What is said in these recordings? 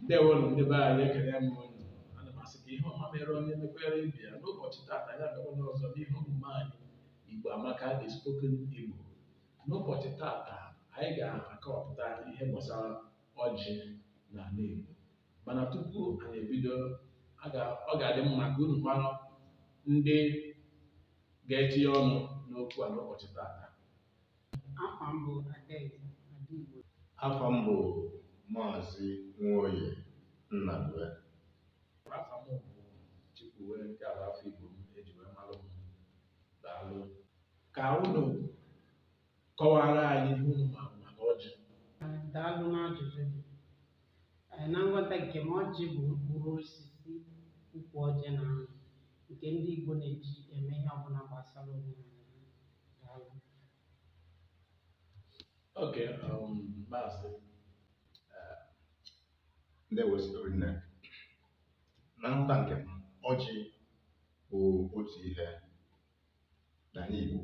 ndewonu ndị be anyị ekele m unu ana m asị ka ihe ọma mere onye mekwere ibe ya n'ụbọchị tata anyị abịakwa n'ọzọ n'ihe omume anyị igbo amaka the spoken igbo n'ụbọchị tata anyị ga-akọwapụta ihe gbasara ọjị na ala igbo mana tupu anyị ebido a ga- ọ ga-adị mma ka unu mara ndị ga-etinye ọnụ n'okwu a n'ụbọchị tata Afa m bụ Adaeze Adaigbo. Afa m bụ Maazị Nwoye Nnadue. Afa m bụ Chikwuwe nke ala afa Igbo m eji wee malụ m. Daalụ. Ka unu kọwara anyị ihe unu ma maka ọjị. Daalụ n'ajụjụ gị. Ee, Na nghọta nke m ọjị bụ mkpụrụ osisi ukwu ọjị na-amị nke ndị Igbo na-eji eme ihe ọbụla gbasara omenala ha. Okay, um, Maazị. Uh, ndewo nne na nghọta nke m ọjị bụ otu ihe n'ala Igbo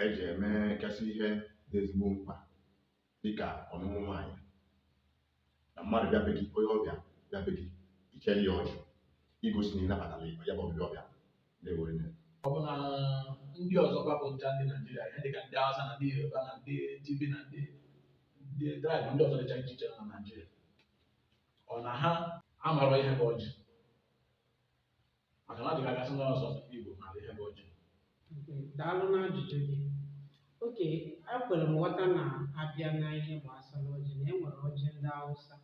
eji emegasị ihe dị ezigbo mkpa dịka ọnụnụ nwaanyị na mmadụ bịa be gị onye ọbịa bịa be gị ichere ya ọjị igosi na ị nabatara ya ya bụ ọbịbịa ọ bịara ndewo nne ọ bụ na ndị ọzọ bụ ncha ndị naijiria ihe dịka ndị hausa na ndị yoruba na ndị tiv na ndị ndị tribe ndị ọzọ dịcha iche iche nọ na naijiria ọ na ha amarọ ihe bụ ọjị maka na ọ dị ka a ga-asị na ọ sọ Igbo mara ihe bụ ọjị daalụ na ajụjụ gị okay ekwere m ghọta na abịa na ihe gbasara ọjị na enwere ọjị ndị Hausa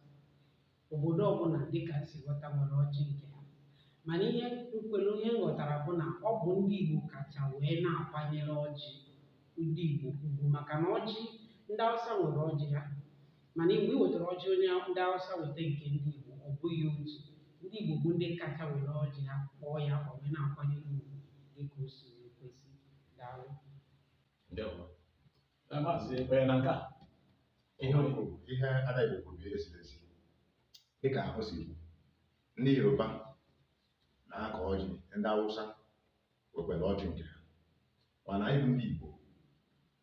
obodo ọbụla dịka m si ghọta nwere ọjị nke ha mana ihe m kwere ihe m ghọtara bụ na ọ bụ ndị Igbo kacha wee na-akwanyere ọjị ndị Igbo ugwu maka na ọjị ndị Hausa nwere ọjị ha mana mgbe ị wetara ọjị onye ndị Hausa weta nke ndị Igbo ọ bụghị otu ndị Igbo bụ ndị kacha were ọjị ha kpọọ ya akpọ wee na-akwanyere ugwu dịka o si wee kwesị daalụ Ndewo. Eh, Maazị ị kwere na nke a ihe o kwuru ihe Adaigbo kwuru bụ ihe ziri ezi dịka o si kwu ndị yoruba na-akọ ọjị ndị awụsa nwekwere ọjị nke ha mana anyị bụ ndị igbo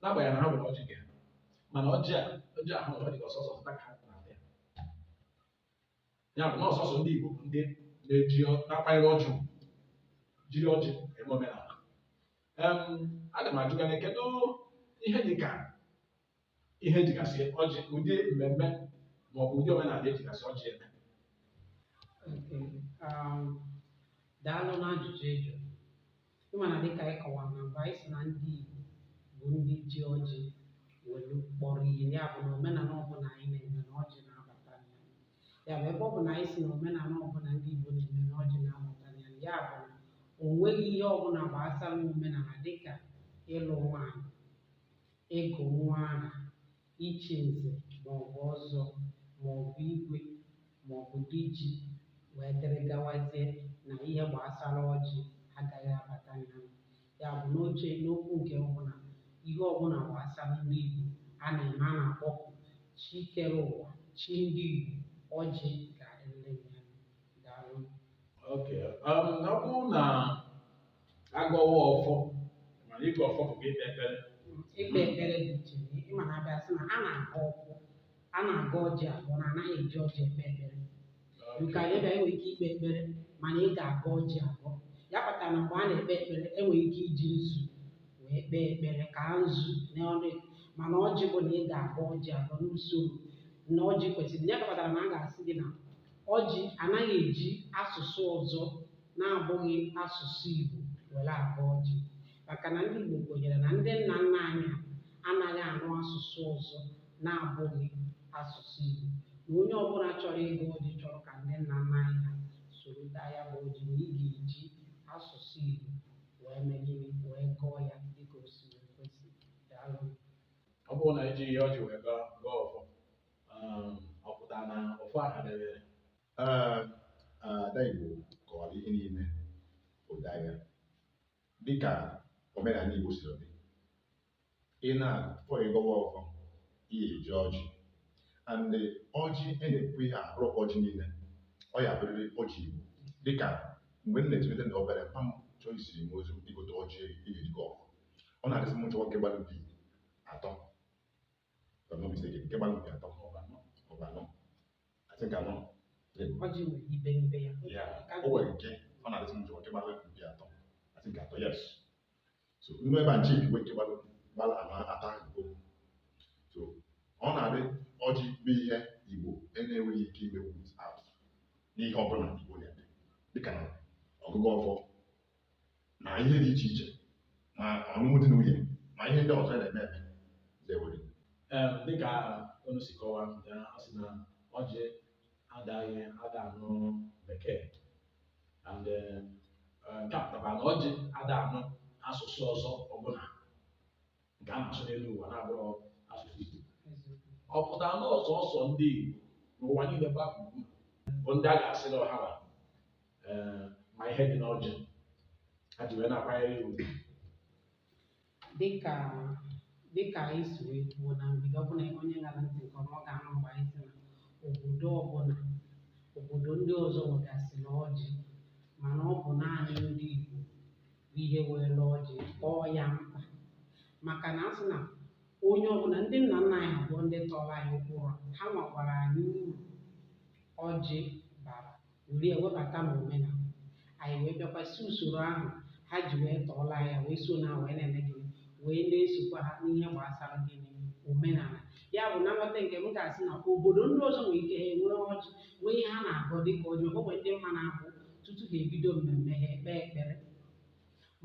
n'agbanyeghị na ha nwere ọjị nke ha mana ọjị a ọjị ahụ ọ dị ka ọ sọsọ ịta ka ha na-ata ya ya bụ na ọ sọsọ ndị Igbo bụ ndị na-eji ọ- na-akwanyere ọjị ugwu, jiri ọjị eme omenala Em, aga m ajụ gị na kedu ihe dị ka ihe ejigasị ọjị ụdị mmemme ma ọ bụ ụdị omenala ejigasị ọjị eme Okay. Um, daalụ n'ajụjụ ị jụrụ. Ị ma na dịka anyị kọwara na mbụ, anyị sị na ndị Igbo bụ ndị ji ọjị welu kpọrọ ihe. Ya bụ na omenala ọbụla anyị na-eme na ọjị na-abata na ya. Ya bụ ebe ọ bụ na anyị sị na omenala ọbụla ndị Igbo na-eme na ọjị na-abata na ya, ya bụ na o nweghị ihe ọbụla gbasara omenala dịka ịlụ nwaanyị, ịgụ nwa aha, ichi nze ma ọ bụ ọzọ ma ọ bụ igwe ma ọ bụ diji wee dịrị gawazie na ihe gbasara ọjị agaghị abata na ya ya bụ n'oche n'okwu nke ọbụla ihe ọbụla gbasara ndị Igbo a na-eme a na-akpọku chi kere ụwa chi ndị Igbo ọjị ga-adịrịrị ya daalụ Okay. Um, ọ bụrụ na agọwa ọfọ mana ịgọ ọfọ bụ ikpe ekpere ikpe ekpere dị iche ị ma na abịa sị na a na-agọ ọfọ a na-agọ ọjị agọ na anaghị eji ọjị ekpe ekpere nke anyị bịa enwere ike ikpe ekpere mana ị ga-agọ ọjị agọ ya kpatara na mgbe a na-ekpe ekpere enwere ike iji nzu wee kpee ekpere kaa nzu n'ọnụ ya. mana ọjị bụ na ị ga-agọ ọjị agọ n'usoro na ọjị kwesịrị ya kpatara na a ga-asị gị na ọjị anaghị eji asụsụ ọzọ na-abụghị asụsụ Igbo were agọ ọjị maka na ndị Igbo kwenyere na ndị nna nna anyị ha anaghị anụ asụsụ ọzọ na-abụghị asụsụ Igbo na onye ọbụla chọrọ ịgọ ọjị chọrọ ka ndị nna nna anyị ha soro taa ya bụ ọjị na ị ga-eji asụsụ Igbo wee mee gịnị wee gọọ ya dịka o si wee kwesị daalụ ọ bụrụ na ejighị ọjị wee gọọ gọọ ọfọ um, ọ pụtara na ọfọ ahụ debere Ee, ada Igbo kọwara ihe niile ụda ya dịka omenala Igbo siri dị ị na-achọ ịgọwa ọfọ ị ya-eji ọjị and ọjị e na-ekwu ihe abụrọ ọjị niile ọ ya-abụrịrị ọjị Igbo dịka mgbe m na-etolite na obere mpa m chọọ izi m ozi igote ọjị ihe eji agọ ọfọ ọ na-adị asị m chọwa nke gbara mpi atọ If I'm not mistaken, nke gbara mpi atọ maọbụ anọ maọbụ anọ. I think anọ. Ọjị nwere ibe n'ibe ya. Yeah, o nwere nke ọ na-adị asị m chọwa nke gbara mpi atọ. I think atọ, yes. So nnu ebe a nche iwe nke gbara gbara anọ atọ ahụ bụ. So ọ na-adị ọjị bụ ihe Igbo na-enweghị ike ime without n'ihe ọbụla Igbo na-eme dịka na ọgụgọ ọfọ na ihe dị iche iche ma ọlụlụ di na nwunye ma ihe ndị ọzọ na-eme eme zewere Ee, dịka unu si kọwaa ya a sị na ọjị adaghị ada anụ bekee and eh, eh, nke a pụtara na ọjị ada anụ asụsụ ọzọ ọbụla nke a na-asụ n'elu ụwa na-abụrụ asụsụ Igbo ọ pụtara na ọ sọọsọ ndị Igbo n'ụwa niile gbaa gburugburu bụ ndị a ga-asị na ọ ha eh, ma ihe dị n'ọjị ha ji wee na-akwanyere ya ugwu dịka dịka anyị si wee kwuo na mbido ọbụla onye ṅara ntị nke ọma ọ ga-anụ mgbe anyị sị na obodo ọbụla obodo ndị ọzọ nwegasịrị ọjị mana ọ bụ naanị ndị Igbo bụ ihe were ọjị kpọọ ya mkpa maka na asị na onye ọbụla ndị nna nna anyị ha bụ ndị tọrọ anyị ụkpụrụ ha gwakwara anyị uru ọjị bara were ya webata n'omenala anyị wee bịakwa si usoro ahụ ha ji wee tọọrọ anyị wee so na wee na-eme gịnị wee na-esokwa ha n'ihe gbasara gịnị omenala ya bụ na nghọta nke m ga-asị na obodo ndị ọzọ nwere ike ha enwee ọjị nwee ihe ha na-agọ dịka ọjị o nwere ndị m ma na-abụ tutu ha ebido mmemme ha ekpe ekpere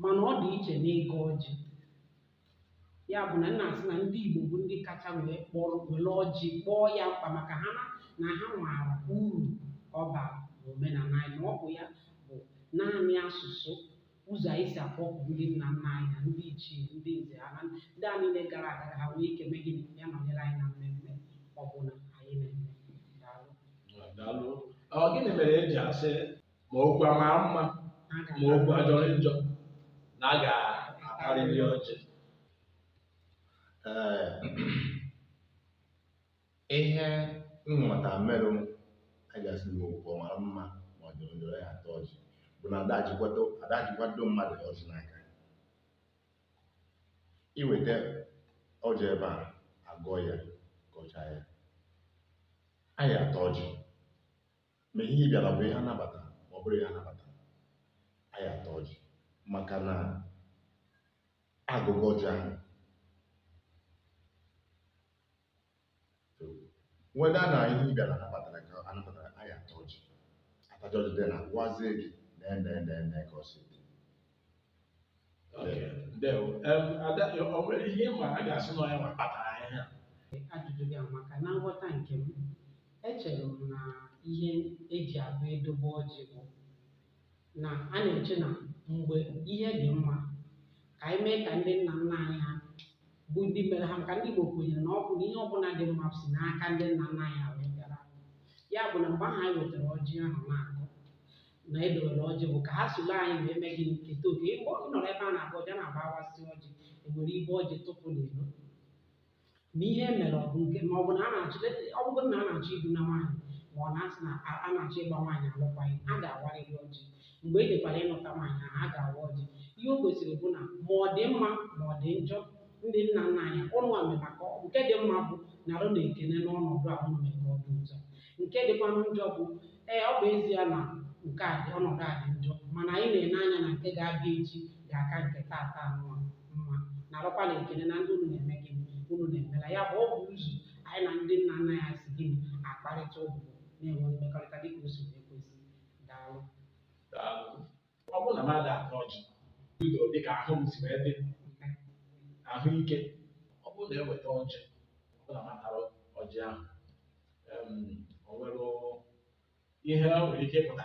mana ọ dị iche n'ịgọ ọjị ya bụ na m na-asị na ndị Igbo bụ ndị kacha wee kpọrọ were ọjị kpọọ ya mkpa maka ha na na ha maara uru ọ bara n'omenala anyị na ọ bụ ya bụ naanị asụsụ ụzọ anyị si akpọku ndị nna nna anyị na ndị ichie ndị nze ha na ndị a niile gara aga ka ha nwee ike mee gịnị bịa nọnyere anyị na mmemme ọbụla anyị na-eme daalụ Daalụ. Ọ gịnị mere e ji asị ma okwu ọ mara mma ma okwu ọ jọrọ njọ na a ga-atarịrị ọjị? Ee, Ihe m ghọta merụ a ga-asị na okwu ọ mara mma ma ọ jọrọ njọ anyị ataa ọjị bụ na ada jikwado ada jikwado mmadụ ọjị n'aka i weta ọjị e bịa agọọ ya gọchaa ya anyị ataa ọjị ma ihe ị bịara bụ ihe anabata ma ọ bụrọ ihe anabata anyị ataa ọjị maka na agọgo ọjị ahụ whether na ihe ị bịara anabatara ka anabatarọ anyị ataa ọjị atachaa ọjị then a gwazie gị na nee nee nee ka ọ si dị Okay, ndewo. Em, Ada, o nwere ihe ị ma a ga-asị na ọ ya nwa kpatara ihe a? ajụjụ gị amaka na nghọta nke m echere m na ihe eji abụ edobe ọjị bụ na a na-eche na mgbe ihe dị mma ka anyị mee ka ndị nna nna anyị ha bụ ndị mere ha maka ndị Igbo kwenyere na ọ bụ na ihe ọbụla dị mma si n'aka ndị nna nna anyị ha wee bịara ya bụ na mgbe ahụ anyị wetara ọjị ahụ na-akụ na edowere ọjị bụ ka ha soro anyị wee mee gịnị keta oke ị bịa nọrọ ebe a na-awa ọjị a na-abụ awasịa ọjị ewere ibe ọjị tụpụ n'iro na ihe e mere ọ bụ nke ma ọ bụ na a na-achọ ọ bụrụ na a na-achọ ibuna nwaanyị ma ọ na-asị na a a na-achọ ịgba nwaanyị alụkwaghị a ga-awarịrị ọjị mgbe e jekwara ịnụta nwaanyị ahụ a ga-awa ọjị ihe o gosiri bụ na ma ọ dị mma ma ọ dị njọ ndị nna nna anyị ụnụnwa mere maka nke dị mma bụ narụ na ekene n'ọnọdụ a ụnụ mere ka ọ dị ụtọ nke dịkwanụ njọ bụ Ee, ọ bụ ezie na nke a dị ọnọdụ a dị njọ mana anyị na-ene anya na nke ga-abịa echi ga-aka nke taata anụwa mma narụkwa na ekene na ndị unu na-eme gịnị unu na-emela ya bụ ọ bụ ụzọ anyị na ndị nna nna anyị si gịnị akparịta ụbụbọ na-enwe mmekọrịta dịka o si wee kwesị Daalụ. ọ bụrụ na mmadụ ata ọjị bido dịka ahụ m si wee dị ahụike ọ bụrụ na eweta ọjị ọ bụrụ na m tara ọjị ahụ em, o nwere ihe o nwere ike ịpụta